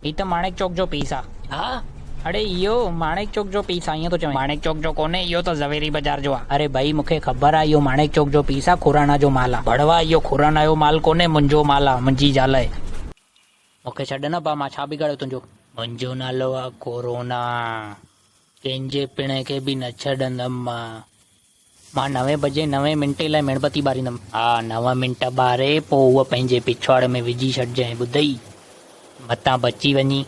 هي ته ماڻڪ چوڪ جو پيس آ. ها اڙي اهو ماڻڪ چوڪ جو پيس آ ائين ٿو چوين. ماڻڪ چوڪ جو ڪونهي اهو ته زويري بازار جو آ. اڙي ڀئي مونکي خبر آ اهو ماڻڪ چوڪ جو پيس آ خوراڻا جو مال آ. ڀڙوا اهو خوراڻا جو مال ڪونهي منهنجو مال آ منهنجي زال اهي. مونکي ڇڏ نه ڀا مان ڇا بگاڙيو تنهنجو. منهنجو نالو آ خورونا ڪنهنجي پڻ کي به نه ڇڏندم مان. مان نوين بجي نوين منٽي لاء ميڻ بتي ٻاريندم. ها نو منٽ ٻاري پوء هوء پنهنجي پڇواڙ ۾ وجهي ڇڏجانء ٻڌئي! متان بچي وڃين.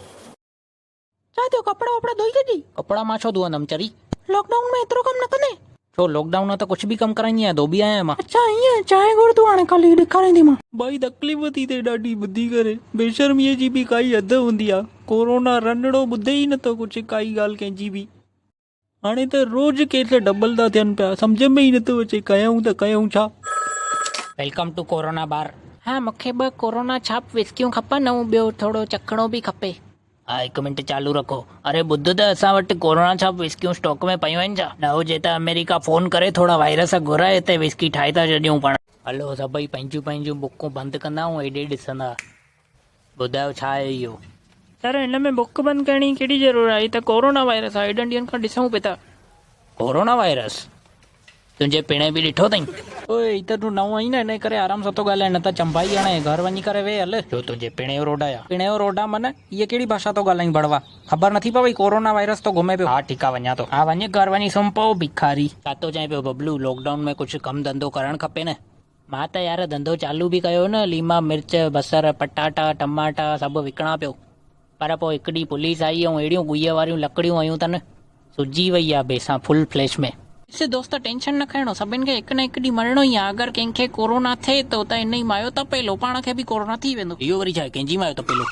ڇا ٿيو ڪپڙا وپڙا ڌوئي ڇڏجئي. ڪپڙا مان ڇو ڌوئندم چري. لاڪ ڊائون ۾ ايترو ڪم نه ڪندين. ڇو لاڪ ڊائون ۾ ته ڪجهه به ڪم ڪرائيندي آهيان ڌوٻي آهيان مان. اڇا ائين چانهه گهر تون هاڻي ڪالهه ئي ڏيکاريندي مان. ڀائي تڪليف ٿي ٿئي ڏاڍي ٻڌي ڪري بيشرميء جي به ڪائي حد هوندي آ ڪورونا رنڙو ٻڌي ئي نٿو ڪجهه ڪائي ڳالهه ڪنهن جي به. هاڻي ته روز ڪيس ڊبل ٿا ٿين پيا سمجهه ۾ ئي نٿو اچي ڪيائون ته ڪيائون ڇا. ويلڪم ٽو ڪورونا بار. ها مون کي ٻه ڪورونا ڇاپ وسڪيون کپن ۽ ٻيو ٿورو چکڻو به کپي. ها هڪ منٽ چالو رکو. اري ٻڌ ته اسان وٽ ڪورونا ڇاپ وسڪيون اسٽاڪ ۾ پيون آهن ڇا؟ نه هجي ته آمريڪا فون ڪري ٿورا وائرس گهرائي هتي وسڪي ٺاهي ٿا ڇڏيون پاڻ. هلو سڀئي پنهنجيون پنهنجيون بڪون بند ڪندا ۽ هيڏي ڏسندا. ٻڌايو ڇا آهي اهو؟ يار هن ۾ بڪ بند ڪرڻ جي ڪهڙي ضرورت آهي هي ته ڪورونا وائرس آهي هيڏن ڏينهن کان ڏسون پي ٿا. ڪورونا وائرس تنهنجي پيڻي به ڏٺو اٿئي. اوء هي ته تون نئون آهين نه انهي ڪري آرام سان ٿو ڳالهائين نه ته چنبائي هڻي گهر وڃي ڪري ويهه هل. ڇو تنهنجي پيڻي جو روڊ آهيان. پيڻي جو روڊ آ من هيء ڪهڙي ڀاشا ٿو ڳالهائين ڀڙوا خبر نٿي پوي ڪورونا وائرس ٿو گهمي پيو. ها ٺيڪ آ ونڃان ٿو. ها وڃ گهر وڃي سمهه پئو ڀکاري. ڇا ٿو چئين پيو ببلو لاڪ ڊائون ۾ ڪجهه ڪم ڌنڌو ڪرڻ کپي نه. مان ته يار ڌنڌو چالو به ڪيو نه ليما مرچ بصر پٽاٽا ٽماٽا سڀ وڪڻان پيو پر پوء هڪ ڏينهن پوليس آئي ۽ اهڙيون ڳويء واريون لڪڙيون هيون تن سجي وئي آ بيسان فل فليش ۾. ڏس دوست ٽينشن نه کڻڻو سڀن کي هڪ نه هڪ ڏينهن مرڻو ئي آ اگر ڪنهن کي ڪورونا ٿئي ٿو ته انهي مايو تپيلو پاڻ کي به ڪورونا ٿي ويندو. اهو وري ڇاهي ڪنهنجي مايو تپيلو.